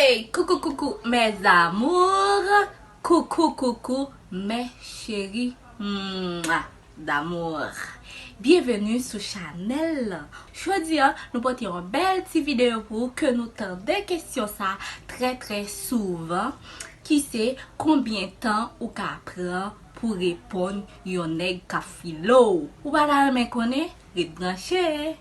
Hey coucou coucou mes amours coucou coucou mes cheries mwa d'amour bienvenue sou Chanel lan jodi an nou pote yon bèl ti video pou ou ke nou tande kesyon sa trè trè souvan ki se konbyen tan ou ka pran pou reponn yon nèg kap file w ou pa ta renmen konnen? Ret branche!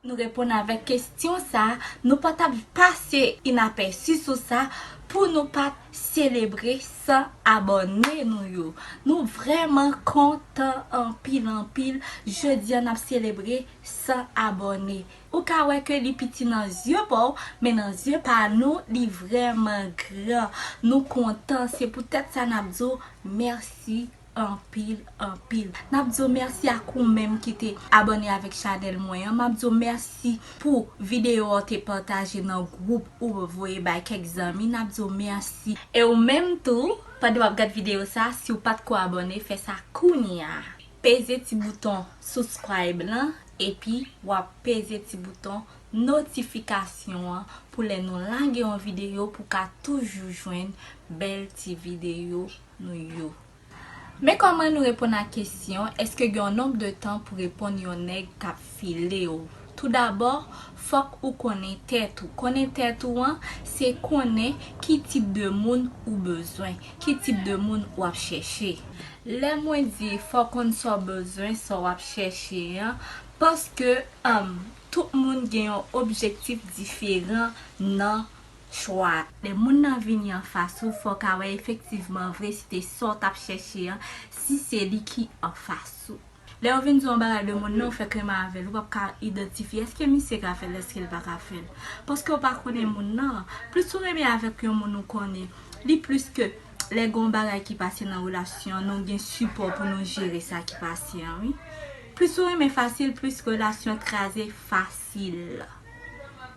Nou reponn avèk kestyon sa, nou pa tap pase inapèsi sou sa pou nou pat selebre 100 abòne nou yo. Nou vrèman kontan anpil anpil, jodi an nap selebre 100 abòne. Ou ka wè ke li piti nan zye paw, men nan zye pa nou li vrèman gran. Nou kontan, se pou tèt sa nap di w mèsi anpil anpil. Nap di w mèsi ak ou menm ki te abòne avèk chanèl mwen an, map di w mèsi pou videyo a ou te pataje nan gwoup ou voye bay kèk zanmi, nap di w mèsi. E ou menm tou, pandan wap gad videyo sa, si w pat ko abòne, fè sa kounya. Peze ti bouton subscribe lan. Epi wap peze ti bouton notifikasyon an pou lè nou lage yon videyo pou ka toujou jwenn bèl ti videyo nou yo. Men kòman nou reponn a kesyon èske gen yon nonb de tan pou reponn yon nèg kap filew. Tou dabò, Fòk ou konnen tèt ou. Konnen tèt ou an, se konnen ki tip de moun ou bezwen. Ki tip de moun w ap chèche. Lè mwen di fò w konn sa w bezwen, sa w ap chèche an, paske tout moun gen yon objektif diferan nan chwa. Lè moun nan vini anfas ou, fò w ka wè efektivman vre si se sa w t ap chèche an, si se li ki anfas ou. Lè yo vin di w yon bagay de moun nan, ou fè kleman avè l. Ou pap ka idantifye, èske misye ka fè l, èske l pa ka fè l? Paske ou pa konnen moun nan. Plis ou renmen avèk yon moun ou konnen, li plis ke lè gen yon bagay ki pase nan relasyon, nou gen sipò pou nou jere sa ki pase an wi. Plis ou renmen fasil, plis relasyon kraze fasil.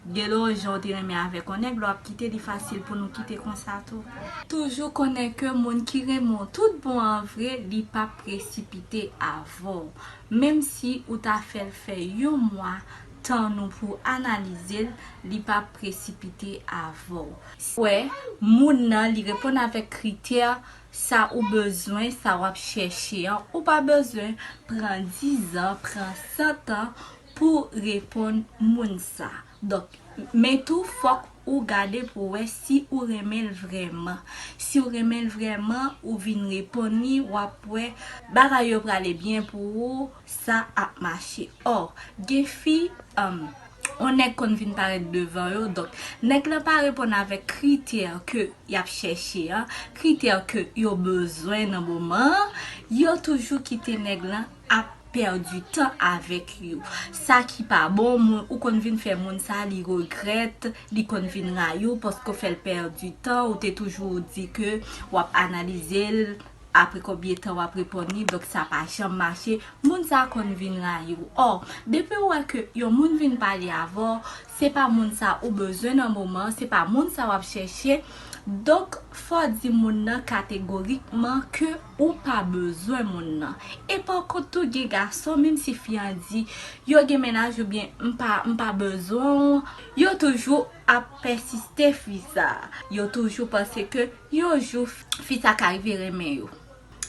Gelo janw te renmen avek on nèg lè wap kite li fasil pou nou kite konsa tou. Toujou konnen ke moun ki renmen w tout bon an vre li pap presipite avè w menm si ou ta fè l fè yon mwa tann ou pou analize l li pap presipite avè w si wè moun nan li reponn avèk kritè sa ou bezwen sa wap chèche an ou pa bezwen pran dizan pran santan Pou reponn moun sa. Donk, men tou fòk ou gade pou wè si ou renmen l vrèman. Si w renmen l vrèman, ou vin reponn li, w ap wè bagay yo prale byen pou ou, sa ap mache. Or, gen fi, yon nèg konn vin parèt devan yo, donk, nèg lan pa reponn avèk kritè ke y ap chèche an, kritè ke yo bezwen nan moman an, yo toujou kite nèg lan. ap perdu tan avek yo sa ki pa bon moun ou konn vin fè moun sa li regrèt li konn vin rayiw paske ou fèl perdu tan ou te toujou di ke wap analizel apre konbyen tan wap reponn li donk sa pa janm mache moun sa konn vin rayiw or depiw wè ke yon moun vin pale avèw Se pa moun sa ou bezwen nan moman an, se pa moun sa wap chèche, donk fò di moun nan kategorikman ke ou pa bezwen moun nan. E pa kont tou gen gason menm si fi an di yo gen mennaj oubyen m pa m pa bezwen w, yo toujou ap pèsiste fi sa, yo toujou panse ke yon jou fi sa ka rive renmen yo.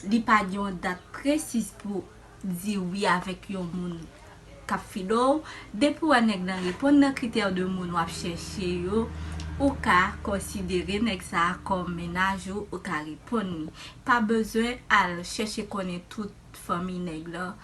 Li pa gen yon dat presiz pou di wi avèk yon moun kap fidò w, depi w wè nèg lan reponn nan kritè de moun wap chèche yo, ou ka konsidere nèg sa kòm mennaj ou, ou ka reponn li. Pa bezwen al chèche konnen tout fanmiy nèg lan,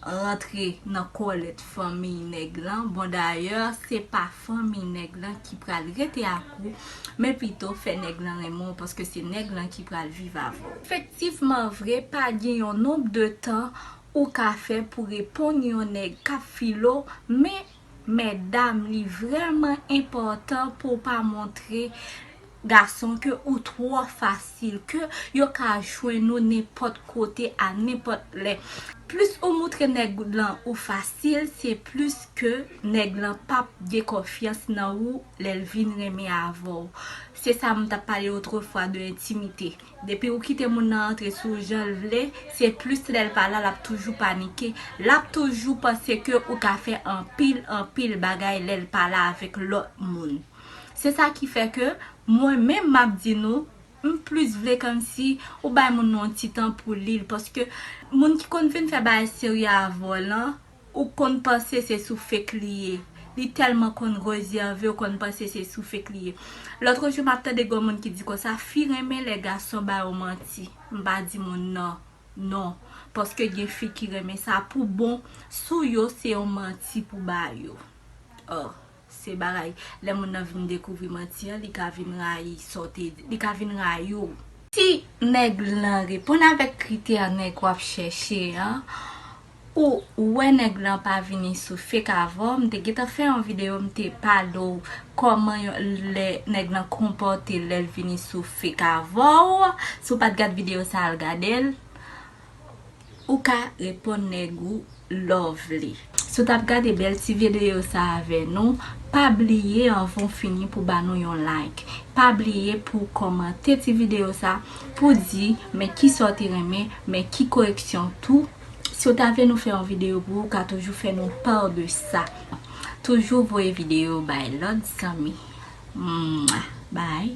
rantre nan kòlèt fanmiy nèg lan, bon dayè se pa fanmi nèg lan ki pral rete ak ou, men pito fè nèg lan renmen w paske se nèg lan ki pral viv avè w. Efektivman vre, pa gen yon nonb de tan ou ka fè pou reponn yon nèg k ap file w, men mètdam li vrèman enpòtan pou w pa montre. Gason ke ou twò fasil ke yo ka jwenn ou nenpòt kote a nenpòt lè. Plis ou moutre nèg lan ou fasil se plis ke nèg lan pap gen konfyans nan ou lèl vin renmen avèw. Se sa m tap pale otrefwa de entimite. Depi ou kite moun nan antre sou w janl vle, se plis lèl pa la lap toujou panike, lap toujou panse ke ou ka fè anpil anpil bagay lèl pa la avèk lòt moun. Se sa ki fè ke mwen menm m ap di nou, m plis vle kòmsi ou bay moun nan yon ti tan pou li l. Paske moun ki konn vin fè bagay serye avè w lan, ou konn panse se sou fake li ye. Li tèlman konn rezève, ou konn panse se sou fake li ye. Lòtrejou m ap tande gon moun ki di konsa, fi renmen lè gason ba yo manti. M pa di moun nan non. Paske gen fi ki renmen sa pou bon, sou yo se yon manti pou ba yo. Ò! Se bagay lè moun nan vin dekouvri manti an li ka vin rayi sa w te di, li ka vin rayi w. Si nèg lan reponn avèk kritè nèg w ap chèche an, ou wè nèg lan pa vini sou fake avè w, m te gentan fè yon videyo m te pale w kòman yon lè nèg lan konpòte l lè l vini sou fake avè w, si w pa t gad videyo sa al gade l. Ou ka reponn nèg ou love li. Si w tap gade bèl ti vedeyo sa avè nou, pa bliye anvan w fini pou ba nou yon like. Pa bliye pou w kòmante ti videyo sa pou w di men kisa w te renmen, men ki koreksyon tou. Si w ta vle nou fè yon videyo pou ou, ou ka toujou fè nou part de sa. Toujou voye videyo bay lòt zanmi. Mwah! Bye!